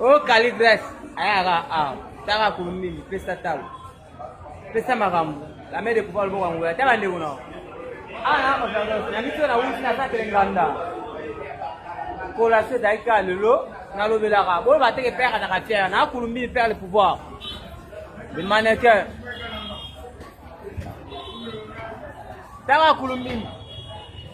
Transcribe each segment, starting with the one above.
Oh, Caligresse, ayaka awa. Tanga kulumili, pesa talo. Pesa makambo. La mère de pouvoir lobo kango. Ata bande kuna. Ah, na ko tanga. Na miso na wuti na sa telenganda. Kola se dai ka lelo. Na lobela ka. Bo ba teke père na ka fière. Na kulumili père le pouvoir. Le mannequin. Tanga kulumili.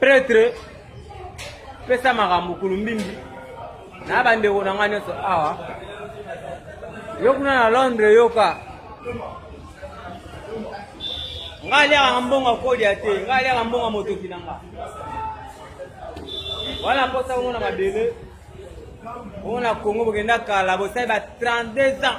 Pretre pesa makambo kulumbimbi na bandeko na ngai nyonso awa yo kuna na londres yoka ngai aliaka mbongo akolia te ngai aliaka mbongo motoki na nga wana mposa komona mabele omona congo bokenda kala bosali ba 32 ans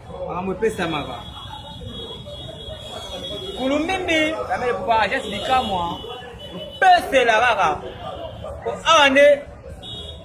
makambo epesamaka kulumbimbi kamele kupa agence bikamwa mpesela kaka po awa nde